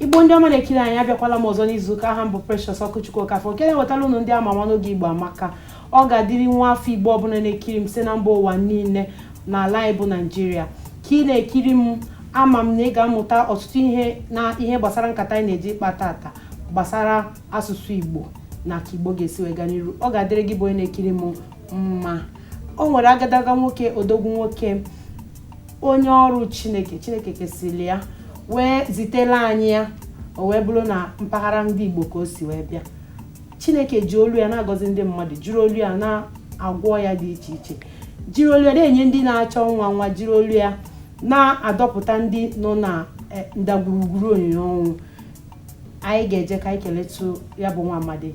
igbo ndị ọma na-ekiri anyị abịakwala m ọzọ n'izuụka aha m bụ Precious Ọkụchukwu Okafọ nke na-ewetara unu ndị ama ama n'oge igbo amaka ọ ga-adịrị nwa afọ igbo ọbụla na-ekiri m site na mba ụwa niile n'ala anyị bụ naịjirịa ka ị na-ekiri m ama m na ị ga-amụta ọtụtụ ihe gbasara nkata anyị na-eje ịkpa tata gbasara asụsụ igbo na ka igbo ga-esi wee gaa n'iru ọ ga-adịrị gị bụ onye na-ekiri m mma o nwere agadaga nwoke odogwu nwoke onye ọrụ chineke chineke kesịrị ya wee zitela anyị ya o wee bụrụ na mpaghara ndị igbo ka o si wee bịa chineke ji olu ya na-agọzi ndị mmadụ jiri olu ya na-agwọ ọya dị iche iche jiri olu ya na-enye ndị na-achọ nwa nwa jiri olu ya na-adọpụta ndị nọ na eh, ndagwurugwuru onyinyo ọnwụ anyị ga-eje ka anyị keletụ ya bụ nwa amadi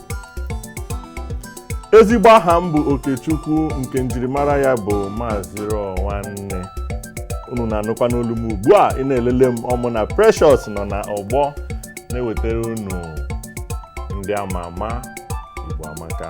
ezigbo aha m bụ okechukwu nke njirimara ya bụ maazị rọ nwanne unu na-anụkwa n'olu m ugbu a ị na-elele m ọ mụ na precious nọ na ọgbọ na-ewetara unu ndị ama ama igbo amaka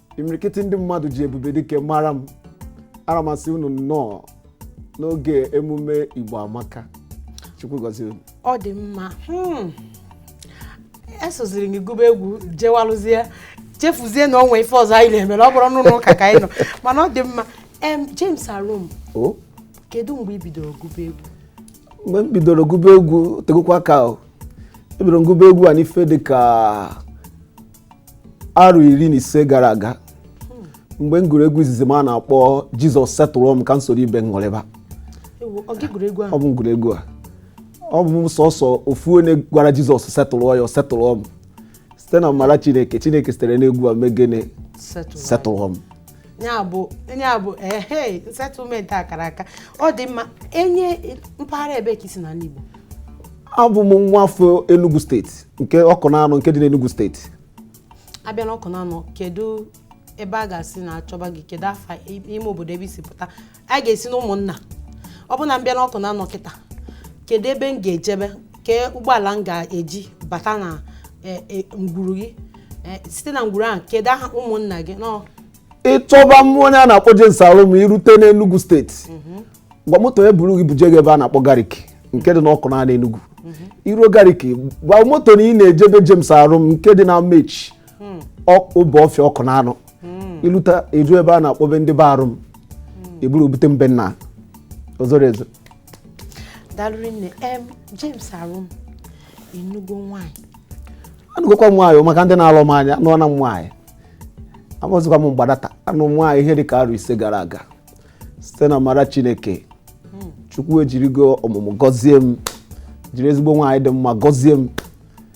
imirikiti ndị mmadụ ji ebube dike mara m ana m asị unu nnọọ n'oge emume igbo amaka chukwu gọzie unu ọ dị mma hmm. esoziri gị gụba egwu jewalụzie chefuzie na o nwe ife ọzọ anyị na-emere ọ bụrụ n'ụlọ ụka ka anyị nọ mana ọ dị mma em James Arum kedu mgbe ị bidoro gụba egwu mgbe m bidoro gụba egwu tegokwa aka ebidoro m gụba egwu a n'ife dịka arọ iri na ise gara aga mgbe m gụrụ egwu izizi m a na-akpọ jizọs settle m ka m soro ibe m ṅụrịba Ewu, ọ gị gụrụ egwu ahụ ọ bụ m gụrụ egwu a ọ bụ m sọsọ ofu onye gwara jizọs settle ya ọ settle m site n'amara chineke chineke sitere n'egwu a mee gịnị settle anyị. settle m ya bụ ya bụ ehe settlement akara aka ọ dị mma onye mpaghara ebee ka i si n'ala Igbo abụ m nwa afọ Enugu steeti nke Ọkụnanọ nke dị n'Enugu steeti a bịa na Ọkụnanọ kedu ebe a ga-asị na a chọba gị kedu afa ime obodo ebe i si pụta a ga-esi na ụmụnna ọ bụ na m bịa n'Ọkụnanọ kịta kedu ebe m ga-ejebe kee ụgbọala m ga-eji bata na eh, eh, ngwuru gị Eh, site na ngwuru ahụ kedu aha ụmụnna gị nọ ị chọba mụ onye a na-akpọ James Arum i rute n'Enugu steeti gwa moto ya buru gị buje gị ebe a na-akpọ Gariki nke dị n'Ọkụnanọ Enugu i ruo Gariki gwa moto na ị na-eje be James Arum nke dị n'Amechi hmm. Obuọfịa Ọkụnanọ hmm. iluta ị jụọ ebe a na-akpọ be ndị be Arum hmm. eburu obute mbe nna ozoro ezo daalụ rinne em James Arum ị nụgo nwaanyị anụgokwa m nwaanyị maka ndị na-alụ m anya anụọna m nwaanyị amụzikwa m mgbadata anụ m nwaanyị ihe dị ka arọ ise gara aga site n'amara Chineke chukwu ejirigo ọmụmụ gọzie m jiri ezigbo nwaanyị dị mma gọzie m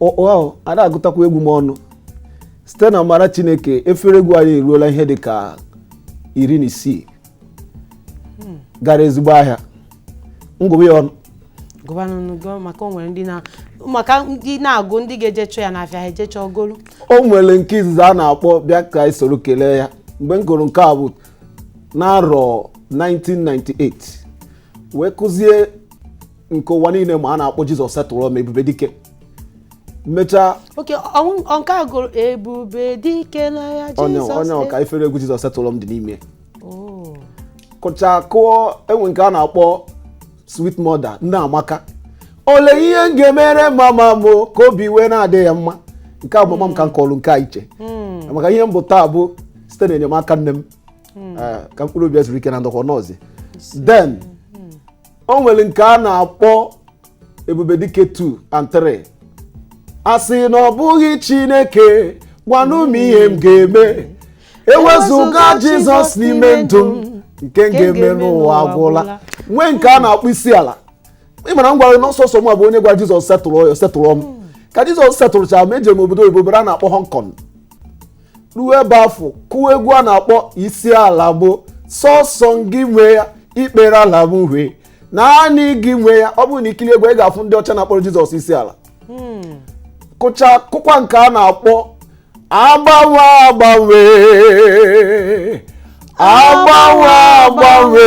oh a na-agụtakwa egwu m ọnụ site n'amara chineke efere egwu anyị eruola ihe dị ka iri na isii gara ezigbo ahịa m gụba ya ọnụ gụbanụ maka ndị na-agụ ndị ga-eje chọọ ya n'afịa ha eje chọọ golu o nwere nke izizi a na-akpọ bịa ka anyị soro kelee ya mgbe m gụrụ nke a bụ n'arọ 1998 wee kụzie nke ụwa niile ma a na-akpọ jizọs setụrụ m ebube dike mechaa okay ọ bụ nke a gụrụ ebube dike n'agha onye jizọs onye ọka efere egwu jizọs setụrụ m dị n'ime Oh. kụcha kụọ e nwee nke a na-akpọ sweet mother nne amaka ole ihe m ga-emere mama m ka obi wee na-adị ya mma nke a bụ mama m ka m kụọrọ nke a iche maka ihe m bụ taa bụ site n'enyemaka nne m hmm. eh, ka mkpụrụ obi zuru ike na ndokwa nọọsụ then hmm. o nwere nke a na-akpọ ebube dike 2 and 3 a sị na ọ bụghị chineke gwanụ m ihe m ga-eme ewezụga jizọs n'ime ndụ m nke m ga-eme n'ụwa agwụla nwee nke a na-akpọ isi ala ị mara m gwara na ọ sọsọ m abụ onye gwa jizọs setụrụ ya setụrụ m ka jizọs setụrụcha m eje m obodo oyibo ebe a na-akpọ hong kong ruo ebe afụ kụọ egwu a na-akpọ isi ala bụ sọsọ gị nwe ya ikpere ala bụ hwe naanị gị nwe ya ọ bụrụ na i kiri egwu ị ga-afụ ndị ọcha na-akpọrọ jizọs isi ala kụcha kụkwa nke a na-akpọ agbanwe agbanwe agbanwe agbanwe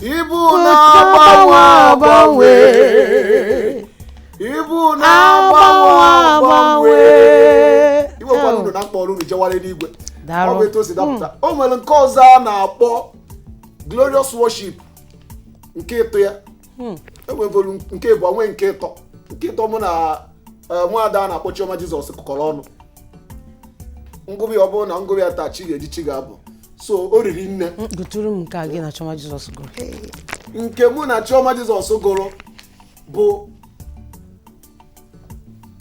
ị bụ na-agbanwe agbanwe ị bụ na-agbanwe agbanwe iwe ewekwana unu na m kpọrọ unu jewara n'igwe ọ bụ etu o si dapụta o nwere nke ọzọ a na-akpọ glorious worship nke ịtọ ya e nwegolu nke ịbụọ nwee nke ịtọ nke ịtọ mụ na eh, nwaada a na-akpọ chioma jizọs kụkọrọ ọnụ m gụba ọ bụrụ na m gụba ya taa chi ga-eji chi ga-abọ so o riri nne gụtụrụ m nke gị na chioma jizọs gụrụ nke mụ na chioma jizọs gụrụ bụ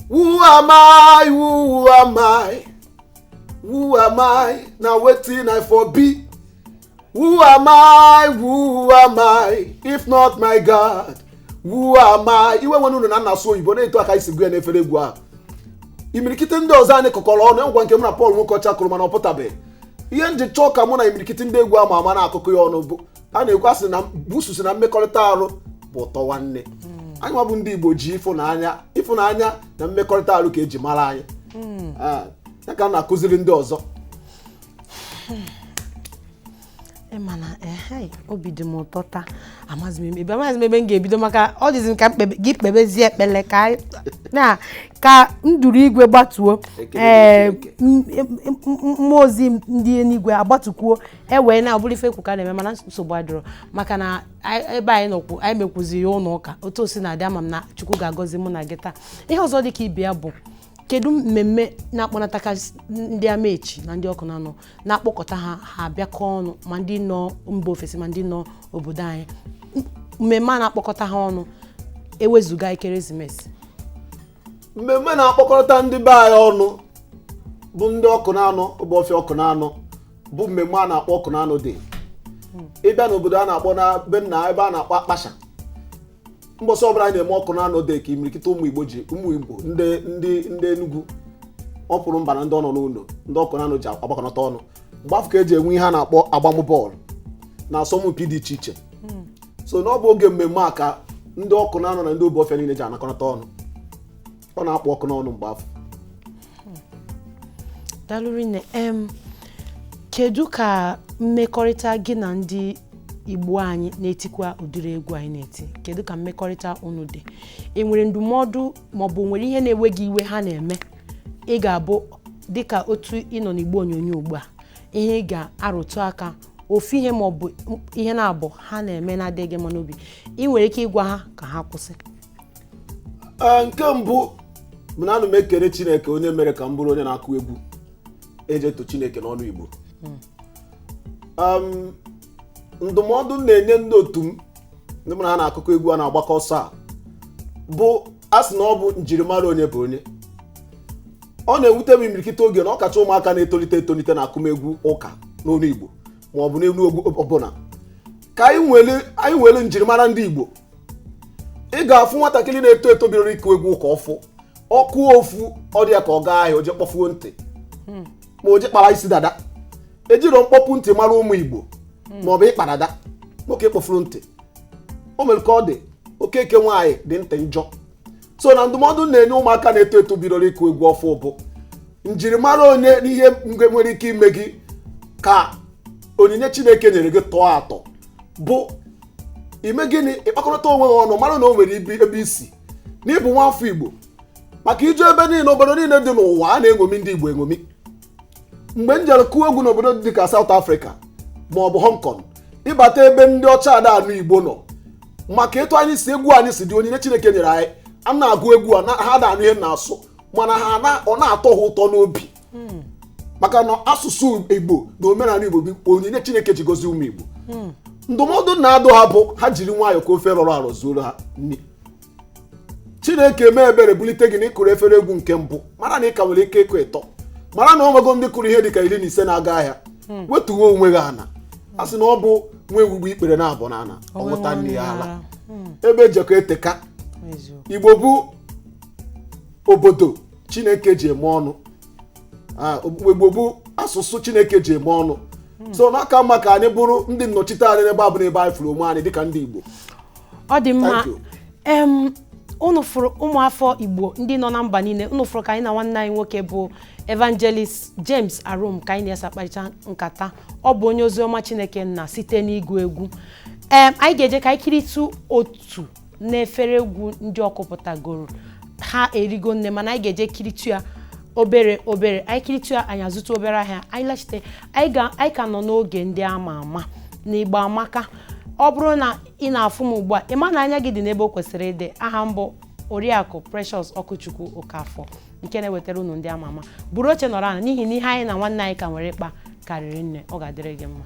Who am I? Who am I? Who am I? Na wetin I for be. Who am I? Who am I? If not my God, who am I? Iwe ewena unu na m na-asụ oyibo na etu a ka e si gụ ya n'efere egwu ahụ. Imirikite ndị ọzọ anyị kụkọrọ ọnụ ngwa nke mụ na Pọl Nwokocha kụrụ mana ọ pụtabeghị. ihe m ji chọọ ka mụ na imirikiti ndị egwu ama ama na-akụkọ ya ọnụ bụ a na-ekwu a sị na busu sị na mmekọrịta arụ bụ ụtọ nwanne anyị nwa bụ ndị igbo ji ịfụnanya ịfụnanya na mmekọrịta arụ ka eji mara anyị Ah, ya ka a na-akụziri ndị ọzọ mana eh, obi dị m ụtọ taa amaghịzi m ebe amaghịzi m ebe m ga-ebido maka ọ dịzi m ka gị kpebezie ekpele ka na ka nduru igwe gbatuo ee eh, mmụọ ozi ndị eluigwe agbatukwuo e wee na ọ bụrụ ife ekwu ka na-eme mana nsogbu adịrọ maka na ebe anyị nọkwu anyị mekwuzi ya ụlọ ụka otu o si na-adị ama m na Chukwu ga-agọzi mụ na gị taa ihe ọzọ dị ka ibe ya bụ kedu mmemme na-akpọnatakarị ndị amaechi na ndị ọkụnanọ na-akpọkọta ha ha abịakọ ọnụ ma ndị nọ mba ofesi ma ndị nọ obodo anyị M- mmemme a na-akpọkọta ha ọnụ ewezụga ekeresimesi mmemme na-akpọkọnata ndị be anyị ọnụ bụ ndị ọkụnanọ obuofia ọkụnanọ bụ mmemme a na-akpọ ọkụnanọ day ị bịa n'obodo a na-akpọ n'ebe n'ebe a na-akpọ akpasha mbọsị ọbụla anyị na-eme ọkụnanọ day ka imirikịta ụmụ igbo ji ụmụ igbo ndị ndị ndị enugwu ọ pụrụ mba na ndị ọnọ n'ụlọ ndị ọkụnanọ ji agbakọnata ọnụ mgbe afụ ka eji enwe ihe a na-akpọ agbamụ bọọlụ na asọmpi dị iche iche hmm. so na ọ bụ oge mmemme a ka ndị ọkụnanọ na ndị obuofia niile ji anakọnata ọnụ ọ na-akpọkọ anyị ọnụ mgbe afụ daalụ rinne em kedu ka mmekọrịta gị na ndị igbo anyị na-etikwa ụdịrị egwu anyị na-eti kedu ka mmekọrịta unu dị i nwere ndụmọdụ maọbụ nwere ihe na-ewe gị iwe ha na-eme ị ga-abụ dịka otu ị nọ n'igbe onyonyo ugbu a ihe ị ga-arụtụ aka ofu ihe maọbụ ihe naabọ ha na-eme na-adịghị gị mma n'obi i nwere ike ịgwa ha ka ha kwụsị Ee, nke mbụ bụ na ana m ekele chineke onye mere ka m bụrụ onye na-akụ egwu eji eto chineke n'onu igbo Em, ndụmọdụ m na-enye ndị otu m ndị mụ na ha na-akụkọ egwu a na-agbakọ ọsọ a bụ a sị na ọ bụ njirimara onye bụ onye ọ na-ewute m imirikịta oge na ọkacha ụmụaka na-etolite etolite na akụmegwu ụka n'olu igbo ma ọ bụ n'olu egwu ọbụla ka anyị nwere anyị nwere njirimara ndị igbo ị ga-afụ nwatakịrị na-eto eto bidoro ịkụ egwu ụka ọfụ ọkụ ọfụ ọ dị ya ka ọ gaa ahịa o je kpọfuo ntị hmm. ma o je kpara isi dada ejirọ mkpọpu ntị mara ụmụ igbo hmm. ma ọ bụ ịkpa dada nwoke kpọfuru ntị o nwere ka ọ dị okeke nwaanyị dị ntị njọ so na ndụmọdụ m na-enye ụmụaka na-eto eto bidoro ịkụ egwu ọfụ bụ njirimara onye n'ihe nwere ike ime gị ka onyinye chineke nyere gị tọọ atọ bụ ime gịnị ịkpakọrọta onwe gị ọnụ mara na o nwere ebe i si n'ịbụ nwa afọ igbo maka i jee ebe niile obodo niile dị n'ụwa a na-eṅomi ndị igbo eṅomi mgbe m jere kụọ egwu n'obodo dị ka South Africa ma ọ bụ Hong Kong ị bata ebe ndị ọcha ada anụ Igbo nọ maka etu anyị si egwu anyị si dị onyinye Chineke nyere anyị a na-agụ egwu a na- ha ada anụ ihe na-asụ mana ha na- ọ na-atọ ha ụtọ n'obi maka na asụsụ igbo na omenala igbo bụ onyinye chineke ji gozie ụmụ igbo ndụmọdụ m na-adụ ha bụ ha jiri nwayọọ ka ofe rọrọ arọ zuoro ha nri chineke mee ebere bulite gị na ị kụrụ efere egwu nke mbụ mara na ị ka nwere ike ịkụ ịtọ mara na o nwego ndị kụrụ ihe dịka iri na ise na-aga ahịa hmm. wetuwe onwe gị ana a sị na ọ bụ nwa ewu gbuo ikpere naabọ n'ana ọ ṅụta nne ya ala hmm. ebe e jekọ eteka igbo bụ obodo chineke ji eme ọnụ ah, igbo bụ asụsụ chineke ji eme ọnụ hmm. so na ọ ka mma ka anyị bụrụ ndị nnọchite anya n'ebe ọbụna ebe anyị fụrụ onwe anyị dịka ndị igbo ọ dị mma Thank you. em unu fụrụ ụmụafọ igbo ndị nọ na mba niile unu fụrụ ka anyị na nwanne anyị nwoke bụ evangelist james arum ka anyị na ya si akparịta nkata ọ bụ onye oziọma chineke nna site n'ịgụ egwu em anyị ga-eje ka anyị kiritụ otu n'efere egwu ndị ọ kụpụtagoro ha erigo nne mana anyị ga-eje kiritụ ya obere obere anyị kiritụ ya anyị azụta obere ahịa anyị lachite anyị ga- anyị ka nọ n'oge ndị ama ama na igbo amaka ọ bụrụ na ị na-afụ m ugbu a ị ma na anya gị dị n'ebe o kwesịrị ịdị aha m bụ oriakụ precious okwuchukwu okafọ nke na-ewetara unu ndị ama ama buru oche nọrọ ana n'ihi na ihe anyị na nwanne anyị ka nwere ịkpa ka riri nne ọ ga-adịrị gị mma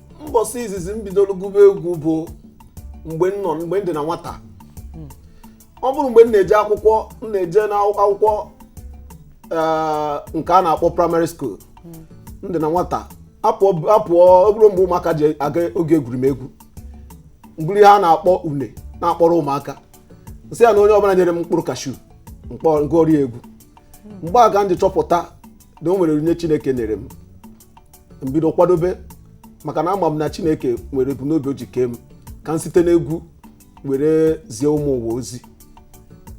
mbọsị izizi m bidoro gụba egwu bụ mgbe m nọ mgbe m dị na nwata ọ bụrụ mgbe m na-eje akwụkwọ m na-eje n'akwụkwọ eh, nke a na-akpọ primary school m dị na nwata a pụọ a pụọ ọ bụrụ mgbe ụmụaka ji aga oge egwuregwu m buru ihe a na-akpọ une na-akpọrọ ụmụaka m sị ya na onye ọbụla nyere m mkpụrụ kashu m kpọ- m gụọrọ ya egwu mgbe a ka m ji chọpụta na o nwere onyinye chineke nyere m m bido kwadobe maka na ama m na chineke nwere ebumnobi o ji kee m ka m site n'egwu were zie ụmụ ụwa ozi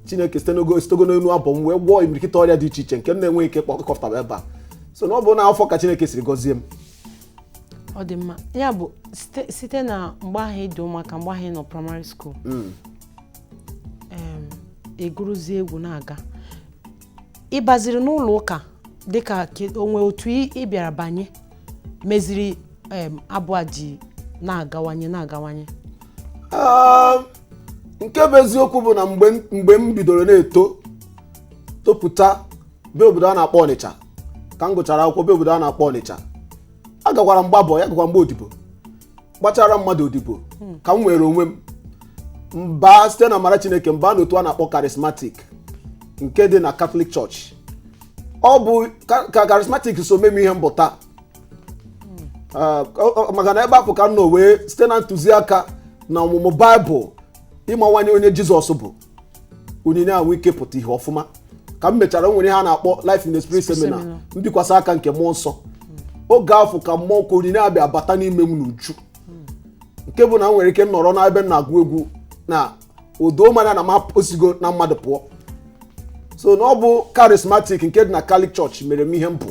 chineke sitego n'elu abụ m wee gwọọ imirikịta ọrịa dị iche iche nke m na-enweghị ike kọpụtaba ebe a so na ọ bụ na afụ ka chineke siri gọzie m ọ dị mma ya bụ site- site na mgbe ahụ ị dị ụmụaka mgbe ahụ ị nọ primary school em, ị gụrụzie egwu na-aga ị baziri n'ụlọ ụka dịka ke- o nwee otu ị ị bịara banye meziri em, abụ a ji na-agawanye na-agawanye Ah, nke bụ eziokwu bụ na mgbe m- mgbe m bidoro na-eto topụta bịa obodo a na-akpọ ọnịcha ka m gụchara akwụkwọ bịa obodo a na-akpọ ọnịcha agakwara m gba boy agakwara m gba odibo gbachara mmadụ odibo ka m nwere onwe m m baa site na amara chineke m baa n'otu a na-akpọ charismatic nke dị na Catholic church ọ bụ ka ka charismatic so mee m ihe m bụ taa Ah, ọ- ọ- maka na ebe afụ ka m nọ wee site na ntụziaka na ọmụmụ baịbụl ịmawanye onye jizọs bụ onyinye a nwee ike pụta ihe ọfụma ka m mechara nwere ihe a na-akpọ life in the spirit seminar. mbikwasị aka nke mmụọ nsọ oge afụ ka mmụọ ka onyinye a bịa bata n'ime m n'uju nke bụ na m nwere ike nọrọ n'ebe m na-agụ egwu na o doo m anya na mmụọ sigo na mmadụ pụọ so na ọ bụ charismatic nke dị na Catholic church mere m ihe m bụ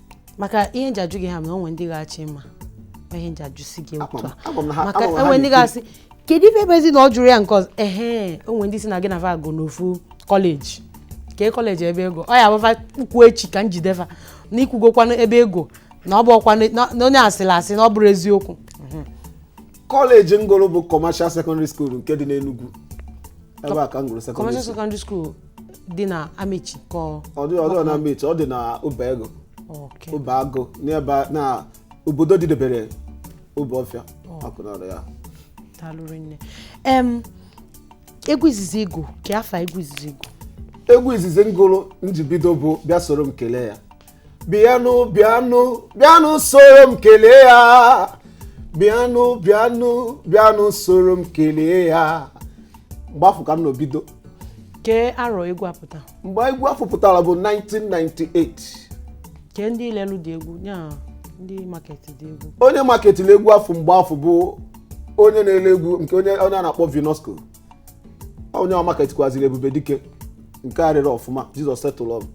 maka ihe m ji ajụ gị ama m na o nwe ndị ga-achọ ịma ihe m ji ajụsi gị otu a maka o nwe ndị ga-asị kedu ife ebe ezi na ọ jụrụ ya nke ọzọ ehe o nwe ndị sị na gị na fa gụ n'ofu kọleji kee kọleji ebe ị gụ ọ ya-abụ fa kwuo echi ka m jide fa na i kwugokwanụ ebe ị gụ na ọ bụ ọkwanụ na- na onye asịrị asị na ọ bụrọ eziokwu kọleji m gụrụ bụ commercial secondary school nke dị n'enugwu ebe a ka m gụrụ commercial secondary school dị na amechi ka ọ ọ dị ọ dị na amechi ọ dị na obeagu okay. obeagu n'ebe a- na obodo dịdebere obuofia awkunanaw ya daalụ rinne em egwu izizi ị gụ kee afa egwu izizi ị gụ egwu izizi m gụrụ m ji bido bụ bịa soro m kelee ya bịanụ bịanụ bịanụ soro m kelee ya bịanụ bịanụ bịanụ soro m kelee ya mgbe afụ ka m na-ebido kee arọ egwu a pụta mgbe egwu afụ pụtara bụ 1998 kee ndị lelu gị egwu ya ndị market gị egwu onye marketịrị egwu afụ mgbe afụ bụ onye na-ele egwu nke onye onye a na-akpọ vinosco onye ọ marketikwaziri ebube dike nke arịrị ọfụma jizọs setụlụ ọ bụ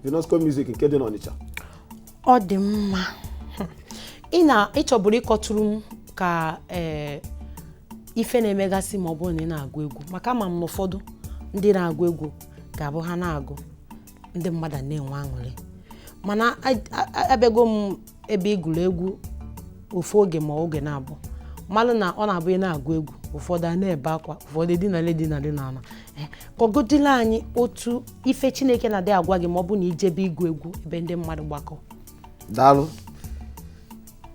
vinosco music nke dị n'ọnịcha ọ dị mma ị na ịchọburu ịkọtụrụ m ka ee ife na-emegasị ma ọ bụrụ na ị na-agụ egwu maka ama m na ụfọdụ ndị na-agụ egwu ga-abụ ha na-agụ ndị mmadụ na-enwe aṅụrị mana a- a- abịago m ebe ị gụrụ egwu ofu oge ma oge na-abụ malụ na ọ na-abụ ị na-agụ egwu ụfọdụ a na-ebe akwa ụfọdụ edinala edinala n'ala Eh, kọgodila anyị otu ife chineke na-adị agwa gị ma ọ bụ na ị jebe ịgụ egwu ebe ndị mmadụ gbakọ daalụ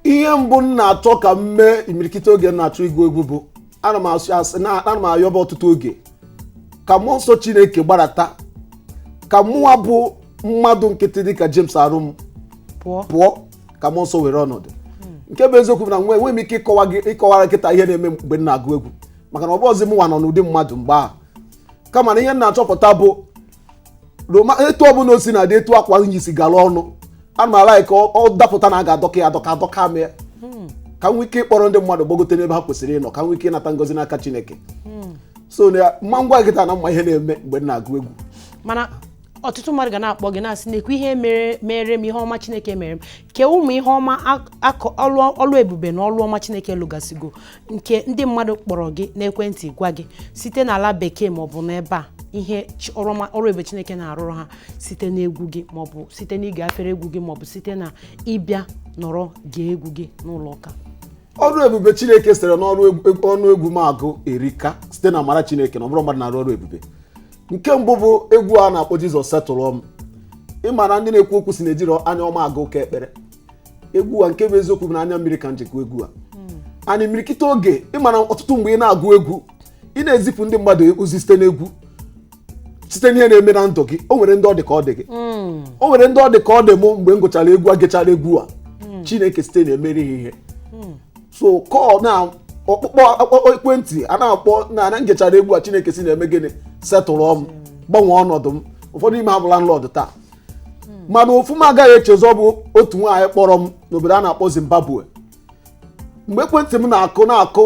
ihe mbụ m na-achọ ka m mee imirikiti oge m na-achọ ịgụ egwu bụ ana m ayọba ọtụtụ oge ka mmụọ nsọ chineke gbarata ka mụwa bụ mmadụ nkịtị dịka james arum pụọ ka mmụọ nsọ were ọnọdụ nke bụ eziokwu bụ na enweghị m ike ịkọwara gị kịta ihe na-eme mgbe m na-agụ egwu maka na ọ bụrọzi mụnwa nọ n'ụdị mmadụ mgbe ahụ kama na ihe m na-achọpụta bụ ma etu ọbụla o sina dị etu akwa m yi si gara ọnụ ana m alaik ka ọ dapụta na a ga-adọka ya adọka adọka m ya hmm. ka m nwee ike ịkpọrọ ndị mmadụ gbagote n'ebe ha kwesịrị ịnọ ka m nwee ike ịnata ngozi n'aka Chineke hmm. so na m ma agwa gị kịta na m ma ihe na-eme mgbe m na-agụ egwu mana ọtụtụ mmadụ ga na-akpọ gị na-asị nekwa ihe mere m ihe ọma chineke mere m kee ụmụ ihe ọma ọlụ ebube na ọlụ ọma chineke lụgasịgo nke ndị mmadụ kpọrọ gị n'ekwentị gwa gị site n'ala bekee maọbụ n'ebe a ihe chi- ọrụ ọma- ọrụ ebube chineke na-arụrụ ha site n'egwu gị maọbụ site n'ige afere egwu gị maọbụ site na ịbịa nọrọ gee egwu gị n'ụlọ ụka ọrụ ebube chineke sitere n'ọnụ egwu m agụ erika site na amara chineke na ọ bụrọ mmadụ na-arụ ọrụ ebube nke mbụ bụ egwu a na-akpọ jizọs setụlụọ m ị ma na ndị na-ekwu okwu sị na ejirọ anya ọma aga ụka ekpere egwu a nke bụ eziokwu bụ na anya mmiri ka m ji kwa egwu a and imirikiti oge ị mara ọtụtụ mgbe ị na-agụ egwu ị na-ezipụ ndị mmadụ ozi site n'egwu site n'ihe na-eme na ndụ gị o nwere ndị ọ dị ka ọ dị gị o nwere ndị ọ dị ka ọ dị mụ mgbe m gụchara egwu a gechara egwu a chineke site na ya meere ha ihe so kọọ na ọkpụkpọ ekwentị a na-akpọ na m gechara egwu a chineke si na ya mee gịnị setụlụọ m gbanwee ọnọdụ m ụfọdụ ime ha bụ landlord taa mana ofu m agaghị echezọ bụ otu nwaanyị kpọrọ m n'obodo a na-akpọ Zimbabwe mgbe ekwentị m na-akụ na-akụ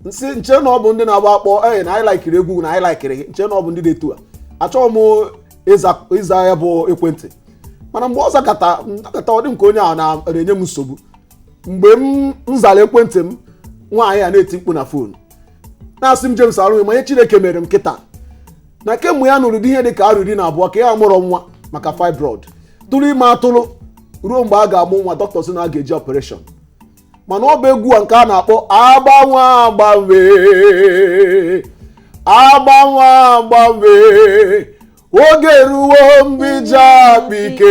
m sị m che na ọ bụ ndị na-agba akpọ ee na anyị laikiri egwu na anyị laikiri gị m che na ọ bụ ndị dị etu a achọghị m ịza- ịza ya bụ ekwentị mana mgbe ọ zakata ọ dị m ka onye ahụ na- na-enye m nsogbu mgbe m m zara ekwentị m nwaanyị a na-eti mkpu na fon na-asị m James Arum ị ma ihe Chineke mere m kịta na kemgbe ya nụrụ di ihe dị ka arọ iri na abụọ ka ya amụrọ nwa maka fibroid tụrụ ime atụrụ ruo mgbe a ga-amụ nwa dọkịta sị na a ga-eji operation mana ọ bụ egwu a nke a na-akpọ agbanwe agbanwe agbanwe agbanwe oge ruo mgbe i ji akpa ike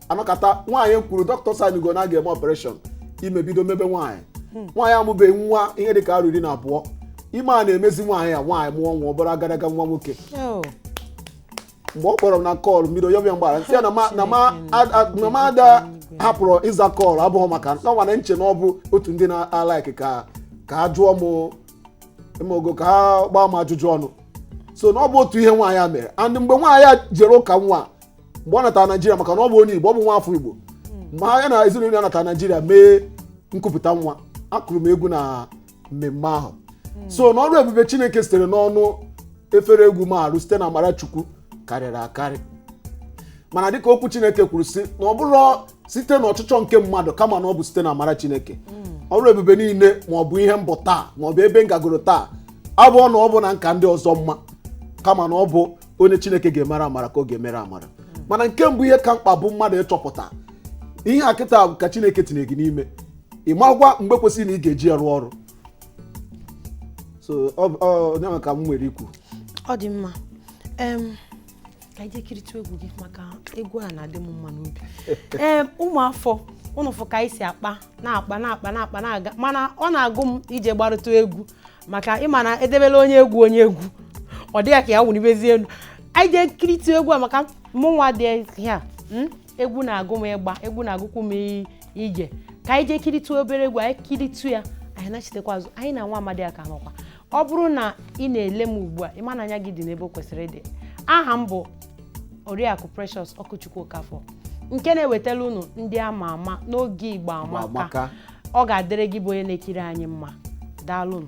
anọkata nwaanyị kwuru dọkịta saịnịgo na a ga-eme operation ime bido mebe nwaanyị nwaanyị amụbeghị nwa ihe dị ka arọ iri na abụọ ime a na-emezi nwaanyị a nwaanyị mụọ nwa ọ bụrụ agadaga nwa nwoke Oh, mgbe ọ kpọrọ m na call mmiri onye ọbịa m gwara m sị ya na ma- na ma- a- a- na ma ada hapụrụ ịza call abụghị maka na mụnwa na-eche na ọ bụ otu ndị na-alaiki ka ka a jụọ m ị mago ka ha gbaa m ajụjụ ọnụ so na ọ bụ otu ihe nwaanyị a mere and mgbe nwaanyị a jere ụka nwa mgbe ọ natara naijiria maka na ọ bụ onye igbo ọ bụ nwa afọ igbo mgbe ha ya na ezinụlọ ya natara naijiria mee nkupụta nwa akụrụ m egwu na mmemme ahụ so na ọrụ ebube chineke sitere n'ọnụ efere egwu m arụ site na amara chukwu karịrị akarị mana dịka okwu chineke kwuru sị na ọ bụrọ site n'ọchịchọ nke mmadụ kama na ọ bụ site na amara chineke ọrụ ebube niile ma ọ bụ ihe m bụ taa ma ọ bụ ebe m gagoro taa abụrọ na ọ bụ na m ka ndị ọzọ mma kama na ọ bụ onye chineke ga-emere amara ka ọ ga-emere amara mana nke mbụ ihe ka mkpa bụ mmadụ ịchọpụta ihe a kịta ka chineke tinye gị n'ime ịmakwa mgbe kwesịrị na ị ga-eji ya rụọ ọrụ so ọ bụ- ọ ya nwa ka m nwere ikwu ọ dị mma em ka anyị kiritụ egwu gị maka egwu a na-adị m mma n'obi ee ụmụ afọ unu fụ ka anyị si akpa na-akpa na-akpa na-akpa na-aga mana ọ na-agụ m ije gbarụta egwu maka ị ma na edebela onye egwu onye egwu ọ dị ya ka ya wụnibezie elu anyị jee kiritụ egwu a maka mụnwa dị ya hmm? egwu na-agụ m ịgba egwu na-agụkwu m ije ka anyị jee kiritụ obere egwu anyị kiritụ ya anyị nachitekwa azụ anyị na nwa amadi a ka nọkwa ọ bụrụ na ị na-ele m ugbu a ị ma na anya gị dị n'ebe o kwesịrị ịdị aha m bụ oriakụ precious okwuchukwu okafọ nke na-ewetara unu ndị ama ama n'oge igbo amaka ọ ga-adịrị gị bụ onye na-ekiri anyị mma daalụnụ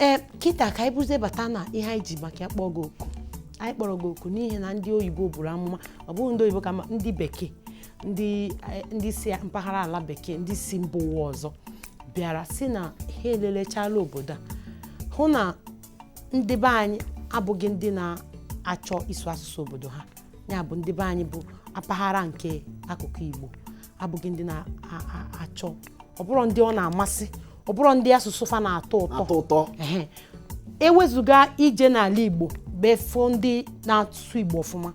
ee kịta ka anyị bụzie bata na ihe anyị ji maka ya kpọọ gị oku anyị kpọrọ gị oku n'ihi na ndị oyibo buru amụma ọ bụghị ndị oyibo kama ndị bekee ndị eh, ndị si mpaghara ala bekee ndị si mba ụwa ọzọ bịara sị na ha elelechala obodo a hụ na ndị be anyị abụghị ndị na-achọ ịsụ asụsụ obodo ha ya bụ ndị be anyị bụ mpaghara nke akụkụ Igbo abụghị ndị na-achọ ọ bụrọ ndị ọ na-amasị ọ bụrọ ndị asụsụ fa na-atọ ụtọ ewezuga ije n'ala Igbo before ndị na-asụ Igbo ọfụma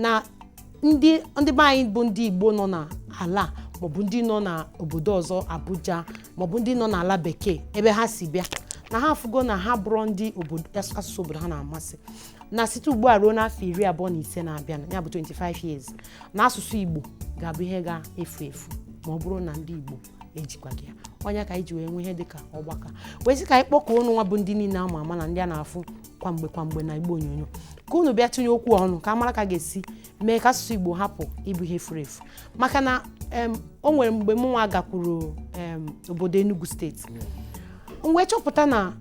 na ndị ndị be anyị bụ ndị igbo nọ n'ala maọbụ ndị nọ n'obodo ọzọ abuja maọbụ ndị nọ n'ala bekee ebe ha si bịa na ha afụgo na ha abụrọ ndị obodo as- asụsụ obodo ha na-amasị na site ugbu a ruo n'afọ iri abụọ na ise na-abịa ya bụ 25 years na asụsụ igbo ga-abụ ihe ga-efu efu ma ọ bụrụ na ndị igbo ejikwaghị ya ọ nya ka anyị ji wee nwee ihe dịka ọgbakọ wee sị ka anyị kpọkọọ unu nwa bụ ndị niile ama ama na ndị a na-afụ kwa mgbe kwa mgbe na igbe onyonyo ka unu bịa tụnye okwu ọnụ ka a mara ka a ga-esi mee ka asụsụ igbo hapụ ịbụ ihe furu efu maka na o nwere mgbe m nwa gakwuru obodo Enugu steeti m wee chọpụta na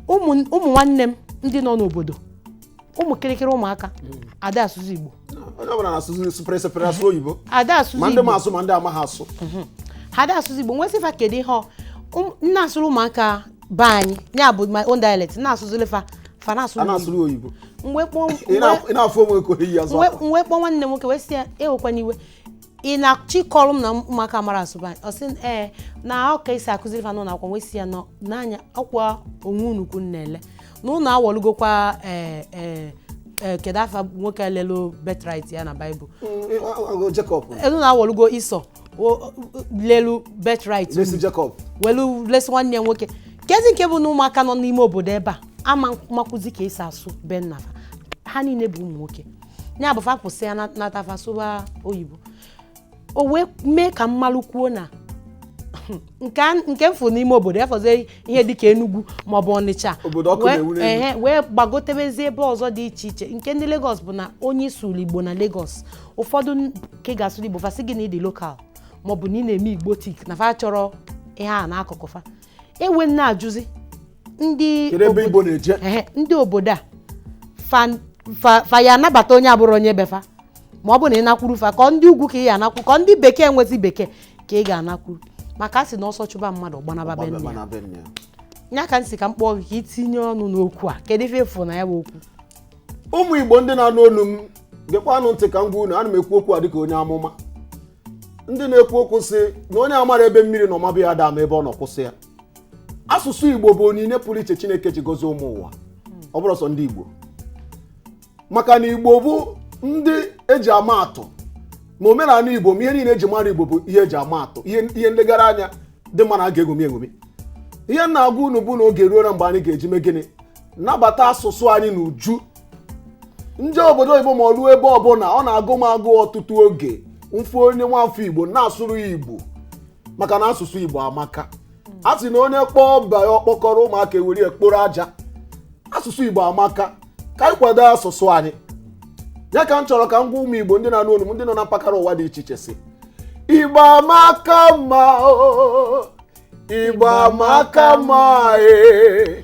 ụmụ nwanne m ndị nọ n'obodo ụmụ kịrịkịrị ụmụaka hmm. ada asụzị igbo onye ọbụla na-asụzị sụpịrị sụpịrị asụ oyibo ada asụzị igbo ma ndị ma asụ ma ndị amaghị asụ hmm. ha ada asụzị igbo m wee sị fa kedu ihe um, m na-asụrụ ụmụaka be anyị ya bụ my own dialect m na-asụzụlụ fa fa na-asụrụ oyibo m wee kpọọ nwanne m nwoke wee sị ya ewekwana iwe ị na-achọ ịkọrọ m na ụmụaka amarọ asụ be anyị ọ sị m, ee na ọ ka e si akụziri fa n'ụlọ akwụkwọ m wee sị ya nọ n'anya ọkwa onwe unu ka unu na-ele na unu awọlugokwa ee ee ee kedu afa nwoke lelu birthright ya na baịbụl Jacob unu nwa awọlugo Esau o- o- lelu birthright lesi Jacob welu lesi nwanne ya nwoke kezi nke bụ na ụmụaka nọ n'ime obodo ebe a ama makwụzi ka e si asụ be nna fa ha niile bụ ụmụ nwoke ya bụ fa kwụsị ya na- nata fa sụba oyibo o wee mee ka m malụkwuo na nke a- nke m fụ n'ime obodo ya fọzie ihe dịka Enugu maọbụ Ọnịcha Obodo ọkụ Wee- na-enwu n'elu. ehe, wee gbagotebezie ebe ọzọ dị iche iche nke ndị Lagos bụ na onye ị sụụrụ Igbo na Lagos ụfọdụ nke ị ga-asụrụ Igbo fa sị gị na ị dị local maọbụ na ị na-eme Igbotic na fa achọrọ ihe a n'akụkụ fa e wee na-ajụzi ndị kedu ebe igbo na-eje ehe, ndị obodo a fa- fa fa ya-anabata onye abụrọ onye be fa ma ọ bụ na ị nakwuru fa ka ọ ndị ugwu ka ị ya-anakwuru ka ọ ndị bekee nwezi bekee ka ị ga-anakwuru maka a sị na ọsọ chụba mmadụ ọ gbanaba be nne ya. Mana be nne ya. nya ka m sị ka m kpọọ gị ka ị tinye ọnụ n'okwu a kedu ife ị fụ na ya bụ okwu ụmụ igbo ndị na-anụ olu m gekwanụ ntị ka m gwa unu ana m ekwu okwu a dịka onye amụma ndị na-ekwu okwu sị na onye amara ebe mmiri nọ maba ya ada ama ebe ọ nọ kwụsị ya asụsụ igbo bụ onyinye pụrụ iche chineke ji gozie ụmụ ụwa ọ bụrọ sọ ndị igbo maka na igbo bụ ndị eji ama atụ ma omenala igbo ma ihe niile eji mara igbo bụ ihe eji ama atụ ihe nlegara anya dị mma na a ga-eṅomi eṅomi ihe m na-agwa unu bụ na oge eruona mgbe anyị ga-eji mee gịnị nabata asụsụ anyị n'uju m jee obodo oyibo ma ọ bụ ebe ọbụla ọ na-agụ m agụụ ọtụtụ oge m fụ onye nwafọ igbo na-asụrụ ya igbo maka na asụsụ igbo amaka a sị na onye kpọọ ọba ya ọkpọkọrọ ụmụaka ewere ya kporo aja asụsụ igbo amaka ka anyị kwado asụsụ anyị ya ka m chọrọ ka m gwa ụmụ igbo ndị na-anụ olu m ndị nọ na mpaghara ụwa dị iche iche sị igbo amaka mma o, igbo amaka mma ee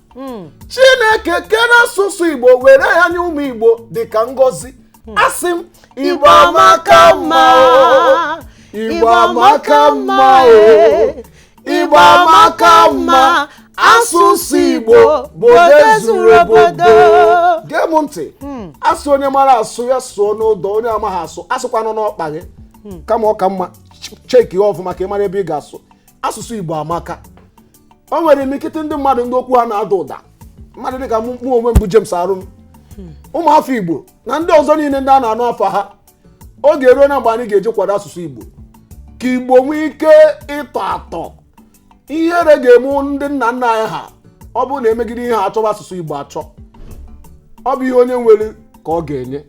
chineke kere asụsụ igbo were ya nye ụmụ igbo dịka ngọzi asị m igbo amaka mma igbo amaka mma e igbo amaka mma asụsụ igbo bụ ozuru obodo gee m ntị a sị onye mara asụ ya sụọ n'odo onye amaghị asụ asụkwanụ n'ọkpa gị kama ọ ka mma cheki ya ọfụma ka ị mara ebe ị ga-asụ asụsụ igbo amaka o nwere imikịtị ndị mmadụ ndị okwu ha na-ada ụda mmadụ dịka mụ onwe m bụ James Arum ụmụafọ igbo na ndị ọzọ niile ndị a na-anụ afa ha oge eruona mgbe anyị ga-eji kwado asụsụ igbo ka igbo nwee ike ịtọ atọ ihere ga-eme ndị nna nna anyị ha ọ bụrụ na e megide ihe a achọba asụsụ igbo achọ ọ bụ ihe onye nwere ka ọ ga-enye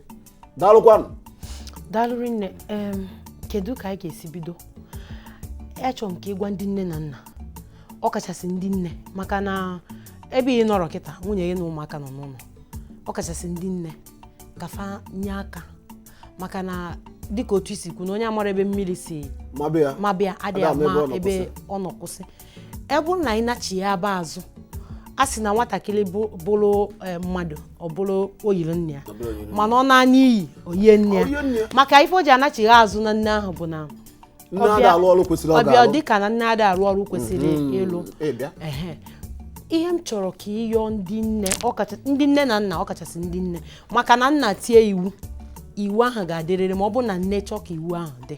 daalụkwanụ daalụ rinne em, kedu ka anyị ga-esi bido achọrọ m ka ị gwa ndị nne na nna ọ kachasị ndị nne maka na ebe ị nọrọ kịta nwunye gị na ụmụaka nọ n'ụlọ ọ kachasị ndị nne ka fa nye aka maka na dịka otu i si kwu na onye amara ebe mmiri si maba ya maba ya adịghị ada ama ama ebe ọ nọ ebe ọ nọ kwụsị ebe bụrụ na anyị nachighaba azụ a sị na nwatakịrị bụrụ e, mmadụ ọ bụrụ oyiri nna ya mana ọ naa n'iyi o yie nne ya maka ife e ji anachigha azụ na nne ahụ bụ na ọ bịa dịka na nne ada arụ ọrụ kwesịrị mhm. ịlụ ihe m chọrọ ka ị yọọ ndị nne ndị nne na nna ọkachasị ndị nne maka na nna tie iwu iwu ahụ ga-adịrịrị ma ọ bụ na nne chọọ ka iwu ahụ dị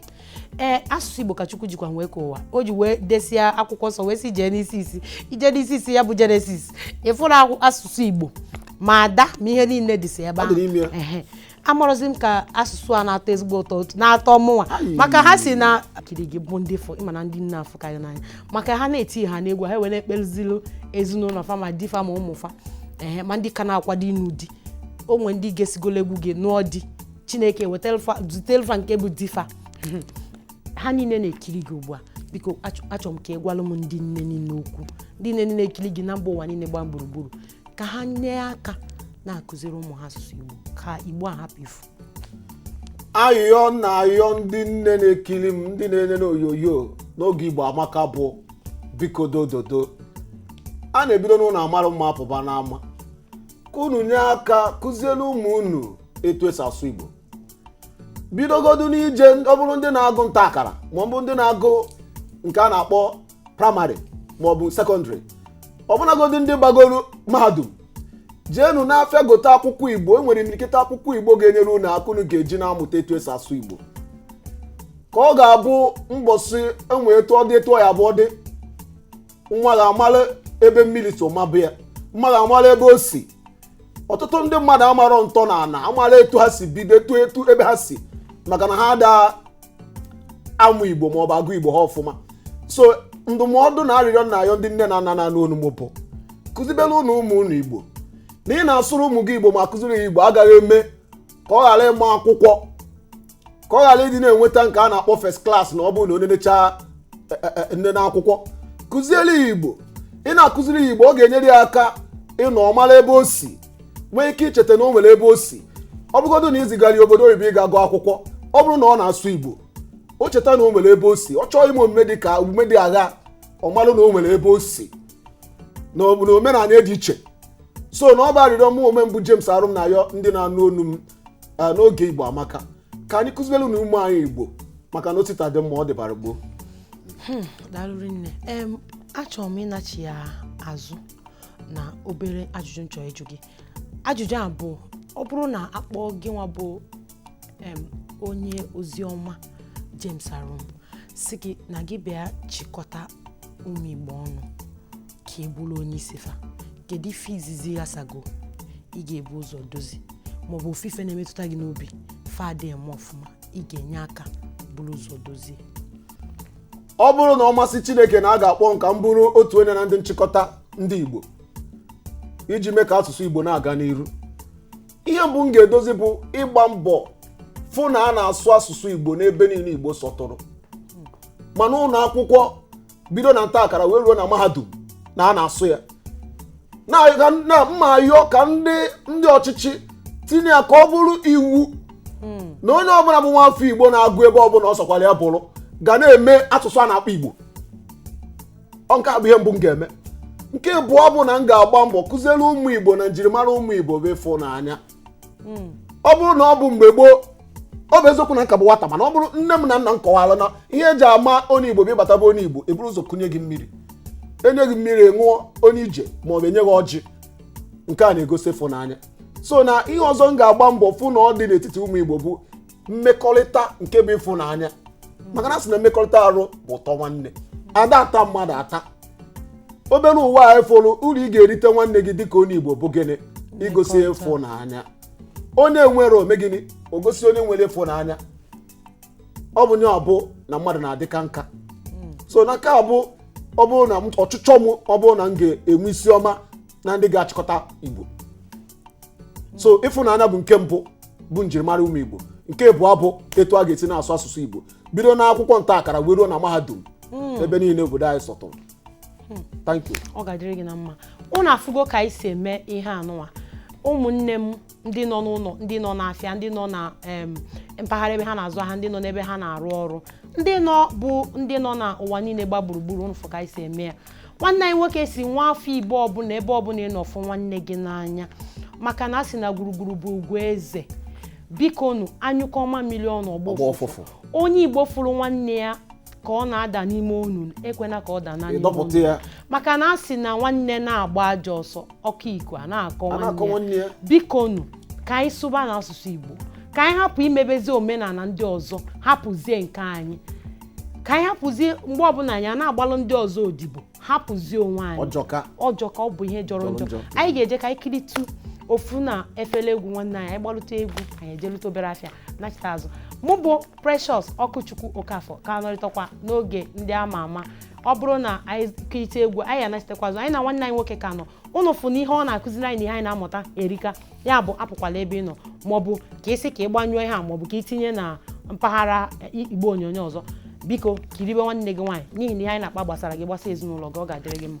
ee asụsụ igbo ka chukwu jikwa wee kee ụwa o ji wee desịa akwụkwọ nsọ wee sị jee n'isi isi ije n'isi isi ya bụ jenesis ị fụrụ akwụ- asụsụ igbo ma ada ma ihe niile dịsi ebe Ọ dị n'ime ya. ahụ Ehe. amarọzi m ka asụsụ a na-atọ ezigbo ụtọ otu- na-atọ mụnwa Ayi. maka ha sị na kiri gị bụ ndị fụ ị ma na ndị nne afụkarị n'anya maka ha na-eti ha n'egwu ha wee na-ekpezilu ezinụlọ fa ma di fa ma ụmụ fa ehe ma ndị ka na-akwado ịnụ di o nwe ndị gesigolo egwu gị nụọ di chineke zitelu fa nke bụ di fa ha niile na-ekiri gị ugbu a biko achọrọ m ka ị gwalụ m ndị nne niile okwu ndị nne niile na-ekiri gị na mba ụwa niile gbaa gburugburu ka ha nye aka na-akụziri ụmụ ha asụsụ Igbo ka Igbo a hapụ ifu ayọ na-ayọ ndị nne na-ekiri m ndị na-ene n'onyonyo n'oge Igbo amaka bụ biko dododo a na-ebido n'ụlọ amarụ mma apụba n'ama ka unu nye aka kụziere ụmụ unu etu esi asụ igbo bidogodu n'ije ọ bụrụ ndị na-agụ nta akara ma ọ bụ ndị na-agụ nke a na-akpọ praịmarị ma ọ bụ sekọndịrị ọbụnagodu ndị gbagoro mahadum jeenu n'afịa gote akwụkwọ igbo e nwere imirikịta akwụkwọ igbo ga-enyere unu aka unu ga-eji na-amụta etu esi asụ igbo ka ọ ga-abụ mbọsị e nwee etu ọ dị etu ọ ya-abụ ọ dị nwa gị amara ebe mmiri si maba ya nwa gị amara ebe o si ọtụtụ ndị mmadụ amarọ ntọ na ana amarọ etu ha si bido etu etu ebe ha si maka na ha ada amụ igbo maọbụ agụ igbo ha ọfụma so ndụmọdụ na arịrịọ m na-ayọ ndị nne na nna na-anụ onu m bụ kụziberenụ ụmụ unu igbo na ị na-asụrụ ụmụ gị igbo ma kụziri ya igbo agaghị eme ka ọ ghara ịma akwụkwọ ka ọ ghara ịdị na-enweta nke a na-akpọ first class na ọ bụrụ na onye nechaa nne n'akwụkwọ kụziere ya igbo ị na-akụziri ya igbo ọ ga-enyere ya aka ịnọ ọ mara ebe o si nwee ike icheta na o nwere ebe o si ọ bụgodo na i zigara ya obodo oyibo ịga gụọ akwụkwọ ọ bụrụ na ọ na-asụ igbo o cheta na o nwere ebe o si ọ chọọ ime omume dị ka omume dị aghaa ọ marụ na o nwere ebe o si na omenala dị iche so na ọ bụ arịrịọ mụ onwe m bụ James Arum na-ayọ ndị na-anụ onu m eh, n'oge Igbo amaka ka anyị kụziberenụ ụmụ anyị Igbo maka na o si taa dị mma ọ dịbara gboo daalụ rinne achọrọ m ịnachigha azụ na obere ajụjụ m chọ ịjụ gị ajụjụ a bụ ọ bụrụ na a kpọọ gị nwa bụ onye ozi ọma James Arum sị gị na gị bịa chịkọta ụmụ igbo ọnụ ka ị bụrụ onye isi fa kedu ife izizi ya sago ị ga-ebu ụzọ dozie maọbụ ofu ife na-emetụta gị n'obi fa adịghị eme ọfụma ị ga-enye aka buru ụzọ dozie ọ bụrụ na ọ masị chineke na a ga-akpọ m ka m bụrụ otu onye na ndị nchịkọta ndị igbo iji mee ka asụsụ igbo na-aga n'iru ihe mbụ m ga-edozi bụ ịgba mbọ fụ na a na-asụ asụsụ igbo n'ebe niile igbo sọtụrụ ma n'ụlọ akwụkwọ bido na nta akara wee ruo na mahadum na a na-asụ ya na ka m- na m na-ayọ ka ndị ndị ọchịchị tinye ya ka ọ bụrụ iwu na onye ọbụla bụ nwaafọ igbo na-agụ ebe ọbụla ọ sọkwara ya bụrụ ga na-eme asụsụ a na-akpọ igbo ọ nke a bụ ihe mbụ m ga-eme nke abụọ bụ na m ga-agba mbọ kụziere ụmụ igbo na njirimara ụmụ igbo bụ ịfụnanya ọ bụrụ na ọ bụ mgbe gboo ọ bụ eziokwu na m ka bụ nwata mana ọ bụrụ nne m na nna m kọwara na ihe eji ama onye igbo bụ ị bata be onye igbo eburu ụzọ kunye gị mmiri enye gị mmiri ṅụọ onye ije ma ọ bụ enye gị ọjị nke a na-egosi ịfụnanya so na ihe ọzọ m ga-agba mbọ fụ na ọ dị n'etiti ụmụ igbo bụ mmekọrịta nke bụ ịfụnanya maka na a sị na mmekọrịta arụ bụ ụtọ nwanne a da ata mmadụ ata obere ụwa a efolu uru ị ga-erite nwanne gị dịka onye igbo bụ gịnị igosi ịfụnanya onye nwere o mee gịnị o gosi onye nwere ịfụnanya o bunye ọ bụ na mmadụ na-adịka nka so na nke a bụ ọ bụrụ na m- ọchịchọ m ọ bụrụ na m ga-enwe isi ọma na ndị ga-achịkọta igbo so ịfụnanya bụ nke mbụ bụ njirimara ụmụ igbo nke abụọ bụ etu a ga-esi na-asụ asụsụ igbo bido na akwụkwọ nta akara wee ruo na mahadum hmm. ebe niile obodo anyị sọtụrụ hmm. thank you ọ ga-adịrị gị na mma ụnụ afụgo ka anyị si eme ihe anụnwa ụmụnne m ndị nọ n'ụlọ ndị nọ n'afịa ndị nọ na mpaghara ebe ha na-azụ ahịa ndị nọ n'ebe ha na-arụ ọrụ ndị nọ na ụwa niile gba gburugburu ụnụ fụ ka anyị si eme ya nwanne anyị nwoke sị nwa afọ igbo ọbụla ebe ọbụla ị nọ fụ nwanne gị n'anya maka na a sị na gburugburu bụ ugwu eze biko nu a nyụkọọ mamịrị ọnụ ọ gbọọ ụfụfụ onye igbo fụrụ nwanne ya ka ọ na-ada n'ime onu ekwena ka ọ daa n'ime onu dọpụta ya maka na a sị na nwanne na-agba ajọ ọsọ ọkụ iko a na-akọ nwanne ya biko nu ka anyị sụba n'asụsụ igbo ka anyị hapụ imebezi omenala ndị ọzọ hapụzie nke anyị ka anyị hapụzie mgbe ọbụla anyị a na-agbalụ ndị ọzọ odibo hapụzie onwe anyị ọ jọka ọ bụ ihe jọrọ njọ anyị ga-eje ka anyị kiritu ofu na efere egwu nwanne anyị anyị gbalụta egwu anyị ejelụta obere afịa nachita azụ mụ bụ precious okwuchukwu okafọ ka nọrịtakwa n'oge ndị ama ama ọ bụrụ na anyị kirite egwu anyị anachitakwa azụ anyị na nwanne anyị nwoke ka nọ ụnụ fụ na ihe ọ na-akụziri anyị na ihe anyị na-amụta erika ya bụ apụkwala ebe ị nọ maọbụ ka ị sị ka ị gbanyụọ ihe a maọbụ ka ị tinye na mpaghara i- igbe onyonyo ọzọ biko kiribe nwanne gị nwaanyị n'ihi na ihe anyị na-akpa gbasara gị gbasa ezinụlọ gị ọ ga-adịrị gị mma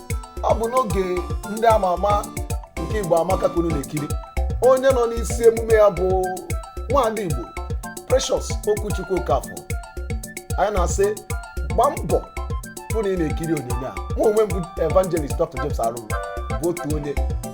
ọ bụ n'oge ndị ama ama nke igbo amaka ka unu na-ekiri onye nọ n'isi emume ya bụ nwaada igbo precious okwuchukwu okafọ anyị na-asị gbaa mbọ hụ na ị na-ekiri onyonyo a mụ onwe m bụ evangelist dr james arum bụ otu onye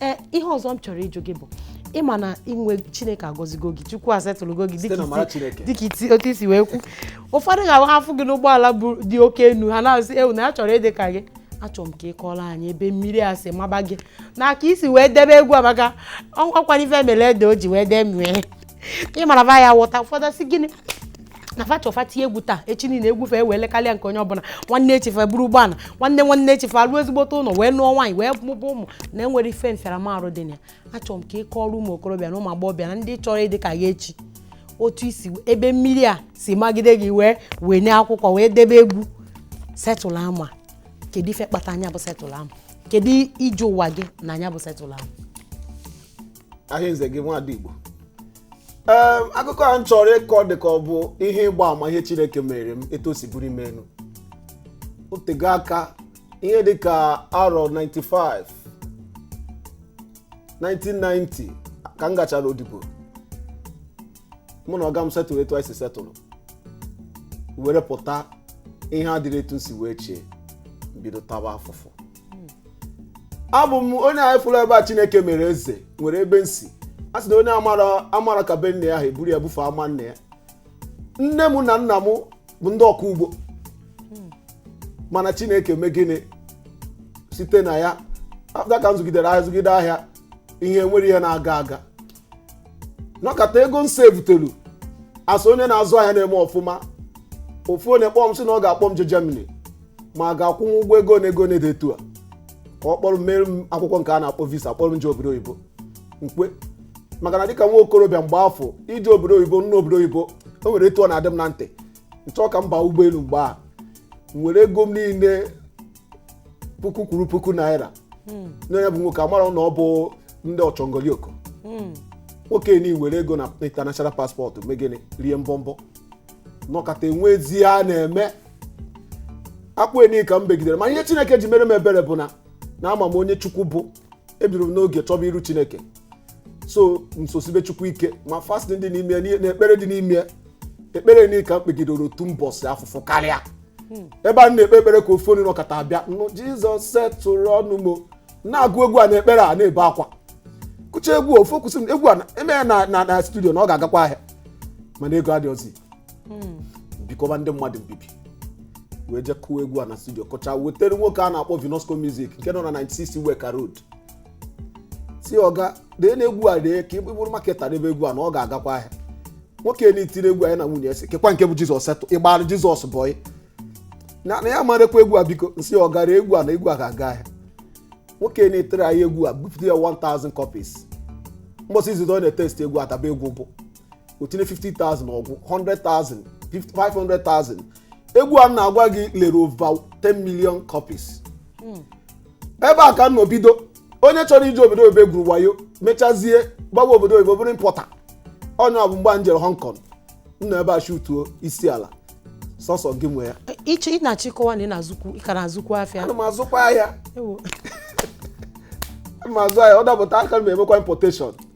ee ihe ọzọ m chọrọ ịjụ gị bụ ịma na inwe chineke agọzigo gị chukwu asetụlụgo gị dịka otu i si wee kwu ụfọdụ ga-afụ gị n'ụgbọala dị oke enu ha na-asị ewu na ya chọrọ ịdị ka gị achọrọ m ka ị kọọrọ anyị ebe mmiri a si maba gị na ka i si wee debe egwu a maka o nwekwanụ ife mere ede o ji wee bee nwii ị mara ba ya wọta ụfọdụ sị gịnị na fa chọ fa tie egwu taa echi niile egwu fa ewee lekarịa nke onye ọbụla nwanne echi fa eburu ụgbọala nwanne nwanne echi fa alụ ezigbote ụlọ wee nụọ nwaanyị wee mụba ụmụ na e nwere ife mfịaramarụ dị na ya achọrọ m ka ị kọọrọ ụmụ okorobịa na ụmụ agbọghọbịa na ndị chọrọ ịdị ka ya echi otu i si ebe mmiri a si magide gị wee wee nye akwụkwọ wee debe egwu setụl ama kedu ife kpatara nya bụ setụl ama kedu ije ụwa gị na nya bụ setụl ama ahịnze gị nwadị igbo ee akụkọ a m chọrọ ịkọ dị ka ọ bụ ihe ịgba ama ihe chineke mere m etu o si bulie m enu o tego aka ihe dị ka arọ 95 1990 ka m gachara odibo mụ na ọga m setụrụ etu anyị si setụrụ were pụta ihe adịrọ etu m si wee chee bido taba afụfụ abụ m onye anyị fụrụ ebe a chineke mere eze nwere ebe m si a sị na onye amarọ ka be nne ya ha eburu ya bufe ama nne ya nne m na nna m bụ ndị ọkọ ugbo mana chineke mee gịnị site na ya afta ka m zụgidere ahịa zụgide ahịa e nwerọ ihe na-aga aga nọkata ego m sevutelu a sị onye na-azụ ahịa na-eme ọfụma ofu onye kpọọ m sị na ọ ga-akpọ m je Germany ma a ga-akwụ m ụgwọ ego na ego na-ede etu a ka ọ kpọrọ m meere m akwụkwọ nke a na-akpọ visa kpọrọ m je obodo oyibo m kwe maka na dịka nwa okorobịa mgbe afụ ije obodo oyibo m nụ obodo oyibo o nwere etu ọ na-adị m na ntị m chọọ ka m baa ụgbọelu mgbe ahụ m were ego m niile puku kwuru puku naira nye nya bụ nwoke amarọ na ọ bụ ndị ọchọngolioko nwoke nị were ego na international passport mee gịnị rie mbọmbọ nọkata enwezi ihe a na-eme akwa nị ka m begidere ma ihe chineke ji mere m ebere bụ na ama m onye chukwu bụ ebidoro m n'oge chọba iru chineke so m sosibe chukwu ike ma fasting dị n'ime ya na ekpere dị n'ime ya ekpere niile ka m kpegidere otu mbọsị afụfụ karịa ebe a na-ekpe ekpere ka ofu onye nọkata bịa nụ jizọs setụrụnụ m o na-agụ egwu a na ekpere a na-ebe akwa gụcha egwu a, ofu kwụsị m egwu a e mee ya na na na studio na ọ ga-agakwa ahịa mana ego adịghịzi hmm. bikọba ndị mmadụ mbibi wee jee kụwa egwu a na studio kụcha wetere nwoke a na-akpọ Vinosco Music nke nọ na 96 Iweka Road sị ọga dee na egwu a dee ka ịbụrụ maketa n'ebe egwu a na ọ ga-agakwa ahịa nwoke na-etiri egwu anyị na nwunye ese kekwa nke bụ Jizọs setụ ịgbara Jizọs bọyị na ya marekwa egwu a biko m sị ọga ree egwu a na egwu a ga-aga ahịa nwoke na-etere anyị egwu a bupụta ya 1000 copies mbọsị izizi ọ na-etest egwu adaba egwu bụ o tinye 50,000 ọ gwụ 100,000 500,000 egwu a m na-agwa gị lere over 10 million copies ebe a ka m nọ bido onye chọrọ ije obodo oyibo egwuru wayo mechazie gbawa obodo oyibo bụrụ importer onye ọ bụ mgbe m jere Hong Kong m nọ ebe a shutuo isi ala sọsọ gị nwe ya iche ị na-achọ ịkọwa na ị na-azụkwu ị ka na-azụkwu afịa ana m azụkwa ahịa Ewo. ana m azụ ahịa ọ dapụta aka m emekwa importation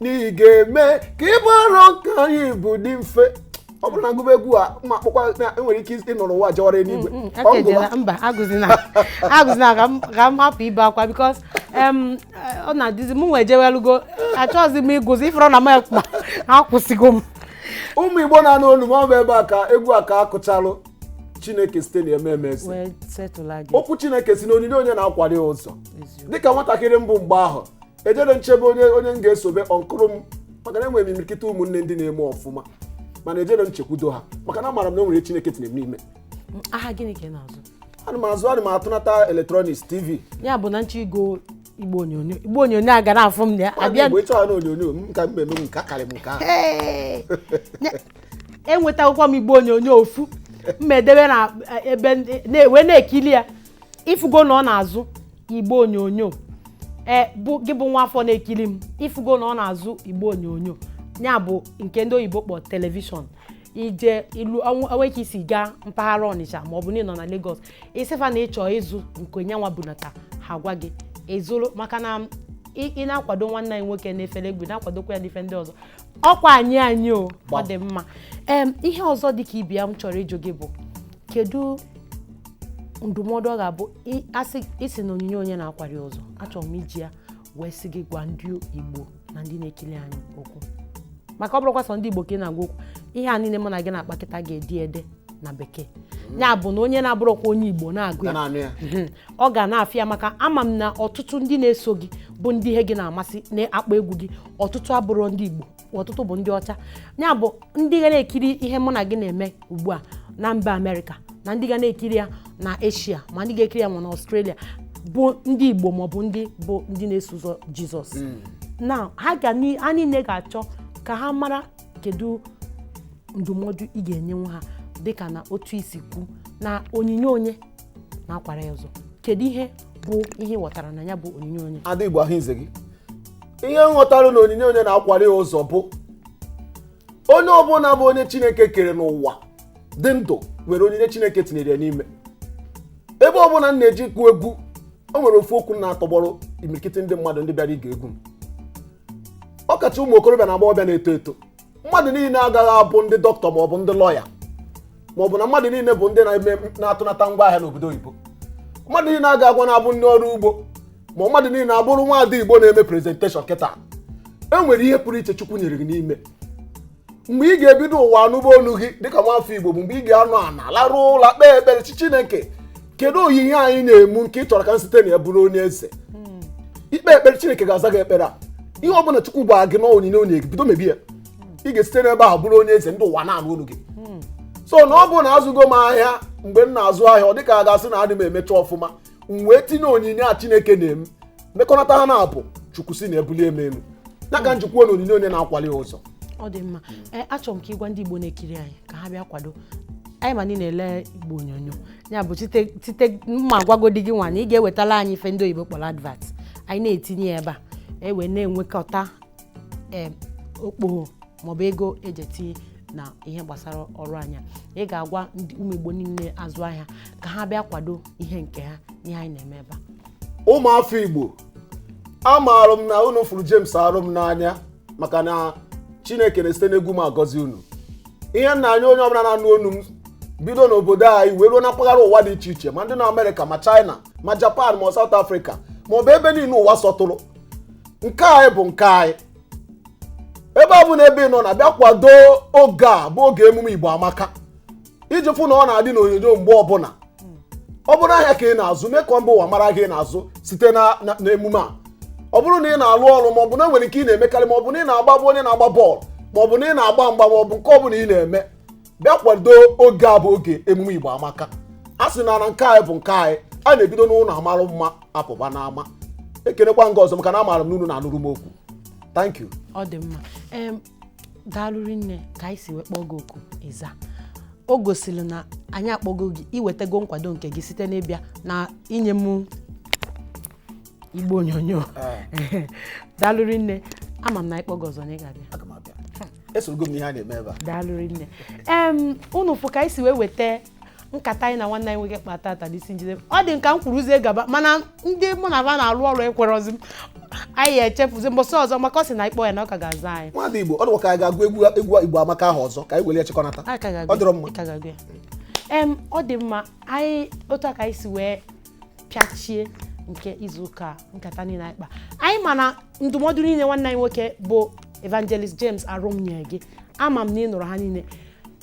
na ị ga-eme ka ibu arọ nke anyị bu dị mfe ọ bụrụ na m gụba egwu a ma akpụkwa enwere ike ịnọrọ ụwa jewara eluigwe mm, mm, ọ ngụba mba agụzina agụzina ka m hapụ ibe akwa because ọ na-adịzi m nwee jewelugo achọghịzi m ịgụzi ifere na m ekpa akwụsịgo m ụmụ igbo na-anụ olu m ọ bụ ebe a ka egwu a ka akụchalụ chineke site na eme emezi okwu chineke sị na onyinye onye na-akwali ụzọ dịka nwatakịrị m bụ mgbe ahụ ejerọ m chebe onye onye m ga-esobe uncle m maka na enwere m imirikiti ụmụnne ndị na-eme ọfụma mana ejerọ m chekwudo ha maka na amaara m na o nwere chineke tinyere m n'ime ahịa gịnị ka ị na-azụ ana m azụ ana m atụnata electronics TV ya bụ na m chọọ ịgo igbe onyonyo igbe onyonyo a gara afụ m na ya abịa mgbe ịchọghị na onyonyo m ka m eme m nke akarị m nke ahụ Ee, ne- enwetakwukwa m igbe onyonyo ofu mma edebe na ebe ndị- na- wee na-ekili ya ịfụgo na ọ na-azụ igbe onyonyo ee bụ gị bụ nwa afọ na-ekiri m ịfụgo na ọ na-azụ igbe onyonyo ya bụ nke ndị oyibo kpọ telivishọn i jeluo n'Iweka i si gaa mpaghara Ọnịcha ma ọ bụ na ị nọ na Lagos ị sị fa na ị chọ ịzụ nke ya nwa bunata ha gwa gị ị zụrụ maka na ị na-akwado nwanne anyị nwoke na-efere egwu na-akwadokwa ya n'ife ndị ọzọ ọkwa anyị anyị o ọ dị mma ee ihe ọzọ dị ka ibe ya m chọrọ ịjụ gị bụ kedu ndụmọdụ ọ ga-abụ a sị ị sị na onyinye onye na-akwari ụzọ achọrọ m iji ya wee sị gị gwa ndị Igbo na ndị na-ekiri anyị okwu maka ọ bụrọkwa sọ ndị Igbo ka ị na-agwa okwu ihe a niile mụ na gị na-akpa kịta ga-edi ede na bekee ya bụ na onye na-abụrọkwa onye Igbo na-agụ ya mhm. ọ ga na-afụ ya maka ama m na ọtụtụ ndị na-eso gị bụ ndị ihe gị na-amasị na-akpọ egwu gị ọtụtụ abụrọ ndị Igbo ọtụtụ bụ ndị ọcha ya bụ ndị ga na-ekiri ihe mụ na gị na-eme ugbu a na mba amerịka na ndị ga na-ekiri ya na eshia ma ndị ga-ekiri ya ma na ọstrelia bụ ndị igbo maọbụ ndị bụ ndị na-eso ụzọ jizọs hmm. na ha ga ha niile ga-achọ ka ha mara kedu ndụmọdụ ị ga-enyenwu ha dịka na otu isi kwu na onyinye onye na-akwara ya ụzọ kedu ihe bụ ihe ị ghọtara na ya bụ onyinye onye ada igbo ahụ ize gị ihe m ghọtara na onyinye onye na-akwara ya ụzọ bụ onye ọbụla bụ onye chineke kere n'ụwa dị ndụ nwere onyinye chineke tinyere ya n'ime ebe ọbụla m na-eje ịkụ egwu o nwere ofu okwu m na-atọgbọrọ imirikiti ndị mmadụ ndị bịara ige egwu m ọkacha ụmụ okorobịa na agbọghọbịa na-eto eto mmadụ niile agaghị abụ ndị dọkịta ma ọ bụ ndị lọya ma ọ bụ na mmadụ niile bụ ndị na-eme na-atụnata ngwa ahịa n'obodo oyibo mmadụ niile agaghịkwanụ abụ ndị ọrụ ugbo ma mmadụ niile abụrụ nwaada igbo na-eme prezenteshọn kịta e nwere ihe pụrụ iche chukwu nyere gị n'ime mgbe ị ga-ebido ụwa anụba olu gị dịka nwafọ igbo bụ mgbe ị ga-anọ ana larụ ụla kpee ekpere sị chineke kedu onyinye a i nyere mụ nke ị chọrọ ka m site na ya bụrụ onye eze i kpee ekpere chineke ga-aza gị ekpere a ihe ọ bụla chukwu gwara gị na onyinye o nyere gị bido mebe ya ị ga-esite n'ebe ahụ bụrụ onye eze ndị ụwa na-anụ olu gị so na ọ bụ na azụgo m ahịa mgbe m na-azụ ahịa ọ dịka a ga-asị na adị m emecha ọfụma m wee tinye onyinye a chineke nyere m mekọnata ha naabọ chukwu si na ya bulie m elu ya ka m ji kwuo na onyinye onye na-akwali ya ụzọ ọ dị mma ee achọrọ m ka ị gwa ndị igbo na-ekiri anyị ka ha bịa kwado anyị ma na-elele igbo onyonyo ya bụ site site na mụ agwagodi gị nwa na ị ga-ewetala anyị ife ndị oyibo kpọrọ advert anyị na-etinye ya ebe a e wee na-enwekọta em, okpogho maọbụ ego e ji etinye na ihe gbasara ọrụ anyị a ị ga-agwa ndị ụmụ igbo niile na-azụ ahịa ka ha bịa kwado ihe nke ha ihe anyị na-eme ebe a ụmụafọ igbo amaara m na unu fụrụ James Arum n'anya maka na Chineke na-esite n'egwu m agọzi unu ihe m na-ayọ onye ọbụla na-anụ onu m bido n'obodo anyị wee ruo na mpaghara ụwa dị iche iche ma ndị na Amerịka ma China ma Japan ma South Africa ma ọ bụ ebe niile ụwa sọtụrụ nke anyị bụ nke anyị ebe ọbụna ebe ị nọ na bịa kwado oge a bụ oge emume Igbo Amaka iji fụ na ọ na-adị n'onyonyo mgbe ọbụla ọ bụrụ ahịa ka ị na-azụ mee ka mba ụwa mara ahịa ị na-azụ site na- na- n'emume a ọ bụrụ na ị na-alụ ọlụ ma ọ bụ na e nwere nke ị na-emekarị ma ọ bụ na ị na-agba bụ onye na-agba bọọlụ ma ọ bụ na ị na-agba mgba ma ọ bụ nke ọ bụla ị na-eme bịa kwado oge a bụ oge emume igbo amaka a sị na na nke anyị bụ nke anyị a na-ebido n'ụlọ amarụ mma apụba n'ama ekenekwa m gị ọzọ maka na amaara m n'unu na-anụrụ m okwu thank you ọ dị mma Em, daalụ rinne ka anyị si wee kpọọ gị oku ịza o gosiri na anyị akpọgo gị ị wetago nkwado nke gị site n'ịbịa na inye m igbe onyonyo daalụ rinne ama m na anyị kpọọ gị ọzọ na ị ga-abịa aga m abịa esorogo m ihe a na-eme ebe a daalụ rinne em unu fụ ka anyị si wee weta nkata anyị na nwanne anyị nwoke kpa tata n'isi njide ọ dị nka m kwuruzie gaba mana ndị mụ na ba na-arụ ọrụ ekwerọzi m anyị ya echefuzi mbọsị ọzọ maka ọ sị na ị kpọọ ya na ọ ka ga-aza anyị nwada igbo ọ dịkwa ka anyị ga-agụ egwu egwu igbo amaka ahụ ọzọ ka anyị were ya chịkọnata Anyị ka ga-agụ- ọ dịrọ mma anyị ka ga-agụ ya. em ọ dị mma anyị otu a ka anyị si wee pịachie nke izu ụka a, nkata niile anyị kpa anyị ma na ndụmọdụ niile nwanne anyị nwoke bụ evangelist james arum nye gị ama m na ị nụrụ ha niile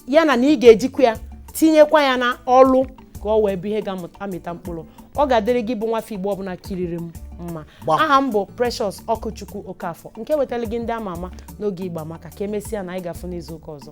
ya na na ị ga-ejikwa ya tinyekwa ya na ọlụ ka ọ wee bụ ihe ga-amịta mkpụrụ ọ ga-adịrị gị bụ nwafọ igbo ọbụla kiriri m mma Gbam. aha m bụ precious okwuchukwu okafọ nke wetara gị ndị ama ama n'oge igbo amaka ka emesịa na anyị ga-afụ n'izu ụka ọzọ